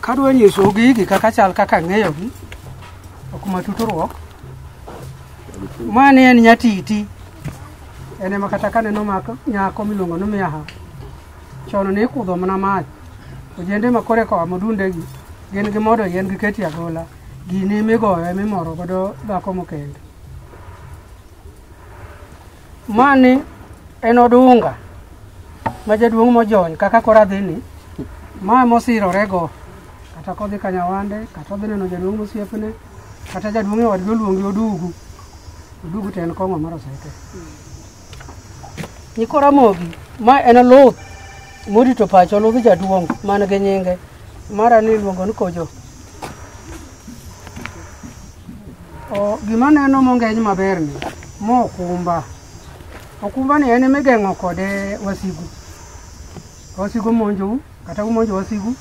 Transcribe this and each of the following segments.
kadwa nyiso gigi kaka chal kaka ng'eyogi ok matuturuok mani en nyatiti en ema kata kaneno mako nyako miluongo ni miaha chon ne ikudho mana mach ojende makore koa modundegi gin gi modo yien gi keti agola gini migoyo emimoro godo dhako mokendo Mani en odunga ma jaduong' mojony kaka koro adhini ma mosirorego kata kodhi ka nyawande kata odhi neno jaduong' mosiepne kata jaduong' e wadgi oluongi odugu odugu to en kong'o mar oseke nyiko ramogi ma en luth morito pacho ludh jaduong' man gi nyinge mara ni iluongo ni kojo O, gima neno mongeny maber ni mo okumba okumba ni en migeng'o kode wasigu Ka wasigu monjou kata umonjo wasigu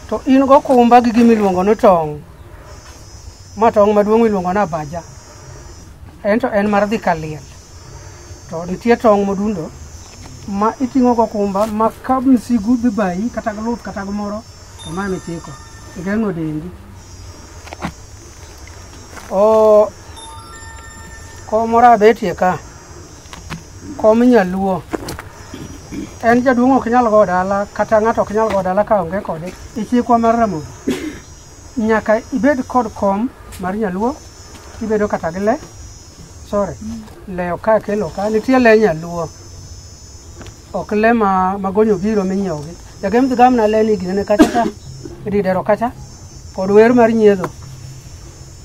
to in go okumba gi gima iluongo ni tong' ma tong' maduong' iluongo ni abaja en to en mar dhi ka liel to nitie tong' modundo ma iting'o go okumba ma ka msigu dhi bayi kata gi luth kata gimoro Omame chiko. Igeng'o dendi. O kom moro abetie ka. Kom nyaluo. En jaduong' ok nyal go dala kata ng'ato ok nyal go dala ka onge kode. Ichikwa mar Ramogi. Nyaka ibed kod kom mar nyaluo. Ibedo kata gi le. Sorry. Le ok akelo ka. Nitie le nyaluo. ok le ma magonyo biro minyiewogi jagem dhi gamna le ni ginene kacha cha ididero kacha kod wer mar nyiedho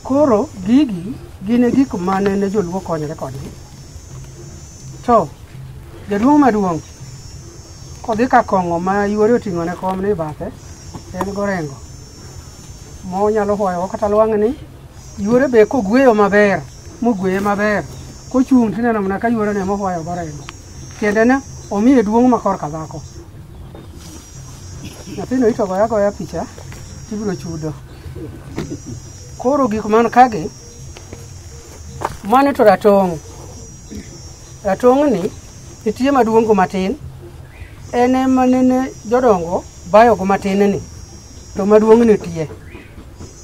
koro gigi gin e gik mane ne joluo konyore kodgi to jaduong' maduong' kodhi ka kong'o ma yuore oting'o ne kom ni bathe en gorengo monyalo hoyogo kata lwang' ni yuore be kogweyo maber mogweye maber kochung' tineno mana ka yuorene mohoyo gorengo Tiendene omiye duong' ma korka dhako. Nyathino ito goya goya picha tibiro chudo. Koro gik man kagi mano to ratong'. Ratong'ni nitie maduong' go matin en ema nene jodongo bayogo matin ni to maduong' nitie.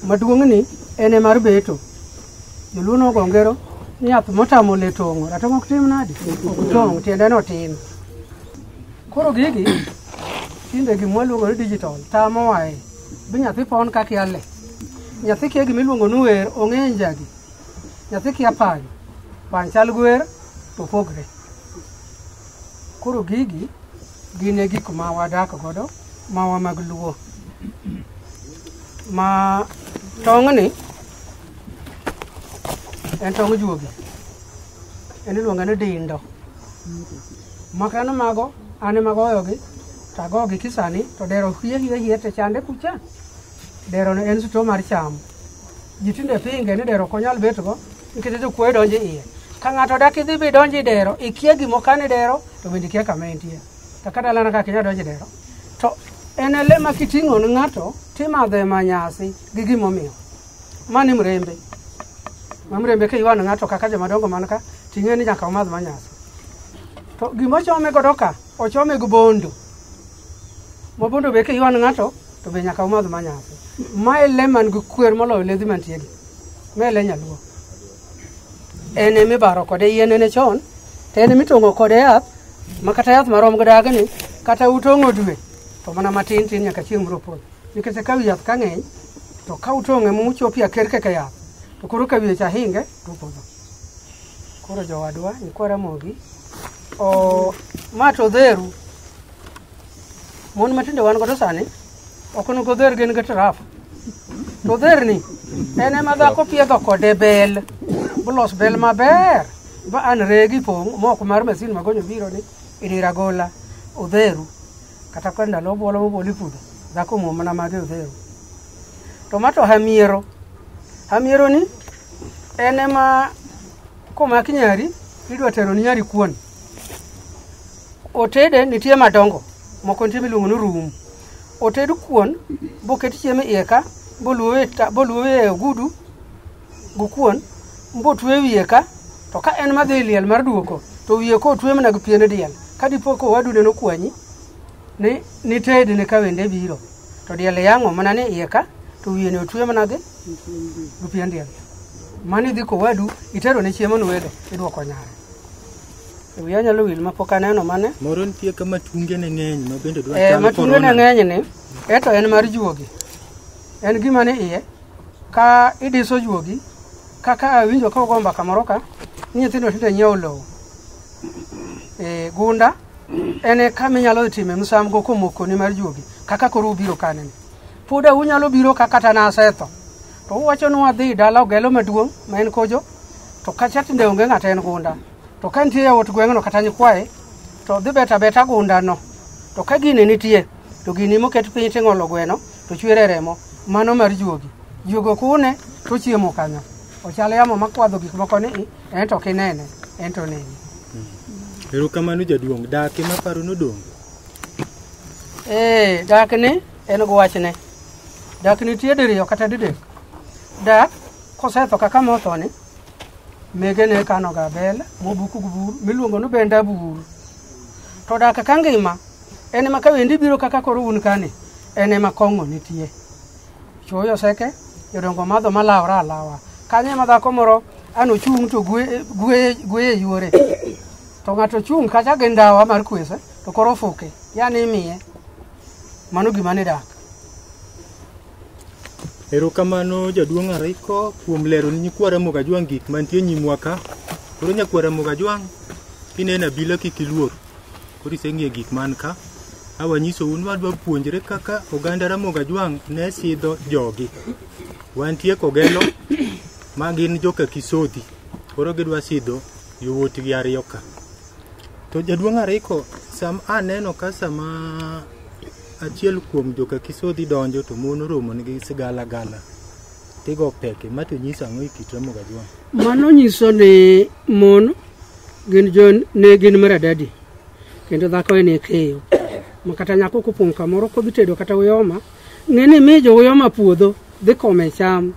Maduong'ni en emar beto. Joluo nogo ngero ni yath motamo le tong'o, ratong' ok tim nadi? Ok tong', tiende no tin. Koro gigi tinde gima waluongo ni digital tamo wae. Bi nyathi pon kaka yale. Nyathi kia gima iluongo ni wer, ong'e njagi. Nyathi kia pany, pany chal gi wer to opogre. Koro gigi gin e gik ma wadak godo ma wa mag luo. Ma tong'ni en tong ojuogi en iluonge ni dindo maka an mago an ema goyogi to agogi kisani to dero hie hie hie te chande kucha dero ne en suto mar cham ji tinde pinge ni dero ok onyal betgo nikech jokuoye donjo iye ka ng'ato dak idhi bi donjo i dero ikia gimo kane dero to bende ikia kama entie to kata lana kaka inya donjo i dero to en ele ma kiting'o ne ng'ato timadhe ma nyasi gi gimomiyo mani mrembe ma mrembe ka iwano ng'ato kaka jomadongo man ka ting'e ni nyaka omadh manyasi to gima ochome godo ka ochome gi bondo ma bondo be ka iwano ng'ato to be nyaka omadh manyasi ma e le man gi kwer moloyo ledhi mantiegi ma e le nyaluo en emibaro kode yien ene chon to en emitong'o kode yath ma kata yath marom gi dagni kata utong'o dwe to mana matin tin nyaka chieng' biro podho nikech ka wi yath ka ng'eny to ka utong'e muchopi aker keke yath to koro ka wiye cha hinge to opodho koro jowadwa nyikwa ramogi o ma to odheru mon matinde wan godo sani ok onego odher gin gi traf to odherni en ema dhako piedho kode bel bolos bel maber ba an regi pong' moko mar masin magonyo biro ni idira gola odheru kata kod ndalo obwolo mobol i puodho dhako omuom mana mage odhero to ma to hamiero hamiero ni en ema komaki nyari idwa tero ni nyari kuon otede nitie madongo moko nitie miluongo ni rum oted kuon boket chiemo iye ka boluowe e ogudu gukuon mbotwe wiye ka to ka en madhi liel mar duoko to wiye ko otwe mana gi piene diel ka dipo ko wadu neno kwanyi ni ni ted ne ka wende biro to diel yango mana ni iye ka to wiye ne otwe mana gi gi pien diel mani dhi ko wadu itero ne chiemo ni wede iduoko nyare e wiya nyalo wil ma pok aneno mane moro nitie ka matunge ne ng'eny ma bende dwa eh, chalo matunge ne corona. ng'eny ni eto en mar juogi en gima ni iye Ka idiso juogi, kaka awinjo ka ugo mbaka moro ka, ni nyithindo tinde nyiewo lowo. E, gunda en e kama inyalo time msamgo komokoni mar juogi, kaka koro ubiro kaneni. Pod unyalo biro ka kata nasetho. To uwacho ni wadhi dala ogelo maduong' ma en kojo, to kacha tinde onge ng'ata en gunda. To ka nitie yawuot gweng'no kata nyikwaye, to dhi beta beta gundano. To ka gini nitie, to gini moket piny ting'olo gweno, to chwere remo mano mar juogi juogo kune to chiemo kanyo ochal yamo makwadho gik moko ni en to kinene en to nene erokamano jaduong' dake maparo nodong' ee dak ni en gi wachne dak nitie diriyo kata didek dak kosetho kaka mothoni mege ne kanoga bel mobuku gi buru miluongo ni benda buru to dak ka ngima En ema kawendi biro kaka koro un kani, en ema kong'o nitie. Chuoyo seke, jodongo madho malawra alawa. Kanyo ema dhako moro an ochung' to gwe- gwe- gweye yuore. To ng'ato chung' kacha gi ndawa mar kwese, to koro ofuke, yani imiye. Mano gima ni dak. Erokamano jaduong' Ariko kuom lero ni nyikwara Mogajwang' gik mantie nyimwa ka. Koro nyakwara Mogajwang' kineno abila kik iluor. Koro iseng'iyo gik man ka awanyisou ni wadwa puonjre kaka oganda Ramogi Ajwang' ne sidho jogi. Wantie Kogelo ma gin joka Kisodhi koro gidwa sidho yowuotgi ariyo ka. To jaduong' Ariko sam aneno ka sama achiel kuom joka Kisodhi donjo to mon oromonegi sigalagala. Tigo peke, ma to nyiso ang'o e kit Remo Gajwang'? Mano nyiso ni mon gin jo ne gin maradadi kendo dhako en e keyo ma kata nyako kopong' kamoro kodhi tedo kata uyoma ng'e ni mi jo uyoma puodho dhi kome cham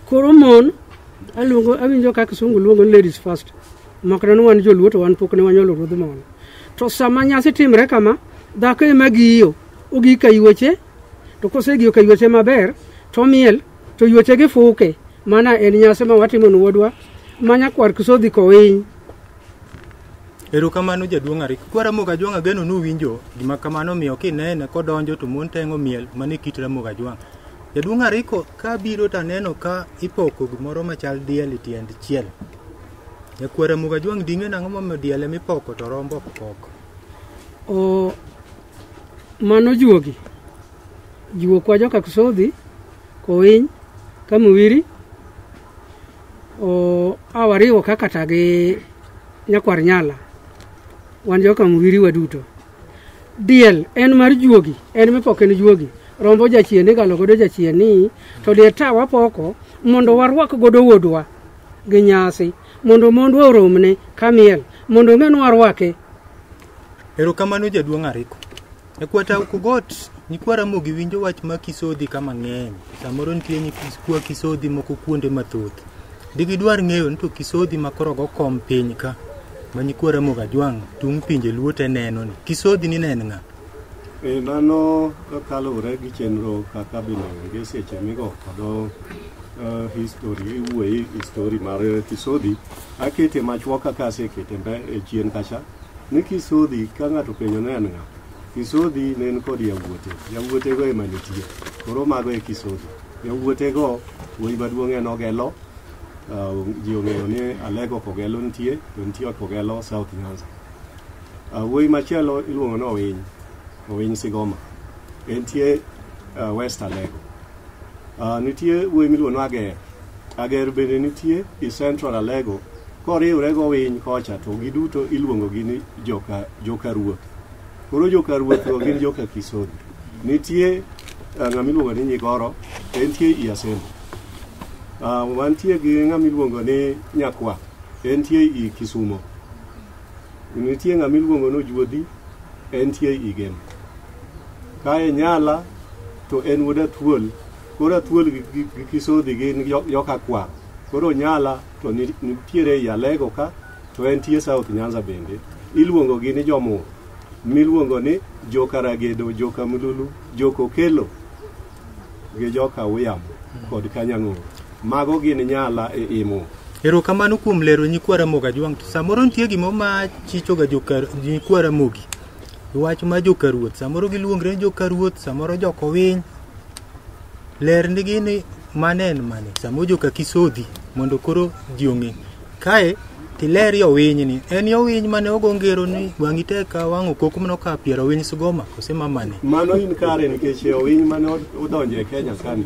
koro mon aluongo awinjo ka kisungu luongo ni ladies first makna ni wan joluo to wan pok ne wanyolo ruodh mon to sama nyasi timre kama dhako ema giyo ogika yueche To kosegi oka yueche maber, to miel, to yueche gi fuke. Mana en nyasi ma watimo ni wuodwa, ma nyakwar kisodhi kowiny. Erokamano jaduong' Arik. Kwa Ramogi Ajwang' ageno nuwinjo gima kamano miyo kinene kodonjo to mon tengo miel mane kit Ramogi Ajwang'. Jaduong' Ariko ka biro to aneno ka ipoko gimoro machal diel e tiend chiel. Jakwa Ramogi Ajwang' ding'e nang'o momiyo diel emipoko to rombo ok pok? O Mano juogi. Juo kwa joka Kusodhi, Kowiny, Kamuwiri. O awariwo kaka ta gi nyakwar nyala. Wan joka Muwiri waduto. Diel en mar juogi, en mipoko en juogi. Rombo jachien igalo godo jachien ni to diel ta wapoko mondo warwak godo wuodwa gi nyasi mondo mondwa oromne kamiel mondo ong'e ni warwake Erokamano jaduong' Ariko. E kwata Ukogot, nyikwa Ramogi winjo wach ma Kisodhi ka mang'eny. Samoro nitie nyikwa Kisodhi moko kuonde mathoth. Digidwar ng'eyo ni to Kisodhi ma koro go kom piny ka ma nyikwa Ramogi Ajwang' tung' pinje luo te neno ni. Kisodhi ni ne en ng'a? E, mano kaluwore gi chenro kaka bende onge seche migo kodo uh, history iwuoye history mar kisodhi akete machuok kaka asekete mbe e chien kacha Ni Kisodhi ka ng'ato penjo ne en ng'a? Kisodhi ne en kod yawuote. Yawuotego ema nitie. Koro mago e Kisodhi. Yawuotego wuoyi maduong' en Ogelo. Uh, ji ong'eyo ni Alego Kogelo nitie, to nitie Kogelo South Nyanza. Uh, wuoyi machielo iluongo ni Owiny. Owiny Sigoma. Entie uh, West Alego. Uh, nitie wuoyi miluongo ni Ager. Ager bende nitie i Central Alego koriwre gowiny kocha to giduto iluongogi ni joka, joka ruoth. Koro joka ruothgo gin joka Kisodi. Nitie eh, ng'ama iluongo ni Nyigoro to entie i Asembo. Ah, wantie gi ng'ama iluongo ni Nyakwa entie i Kisumo. Nitie ng'ama iluongo ni Ojuodhi entie i Gem. Kae Nyala to en wuod Atuol Koro athuol gi, gi, gi kisodhi gi jo- joka kwar. Koro nyala to ni- nitiere ei Alego ka to en tie South Nyanza bende. Iluongo gi ni jomo miluongo ni joka Ragedo, joka Mululu, joka Okelo gi joka Uyamo kod Kanyang'o. Mago gin nyala e imo. Erokamano kuom lero nyikwa Ramogi Ajwang'. To Samoro nitie gimo ma chichoga joka nyikwa Ramogi. wach ma jokaruoth samoro giluongre ni jokaruoth samoro jokowiny lernigi ni mane en mane samoro joka kisodhi mondo koro ji ong'e kae tiler yowiny ni en yowiny mane ogo ngero ni wang'i tek ka wang' okoko mno ka piero winy sigoma kose ma mane Mano in kare nikech owiny mane odonjo e Kenya kani.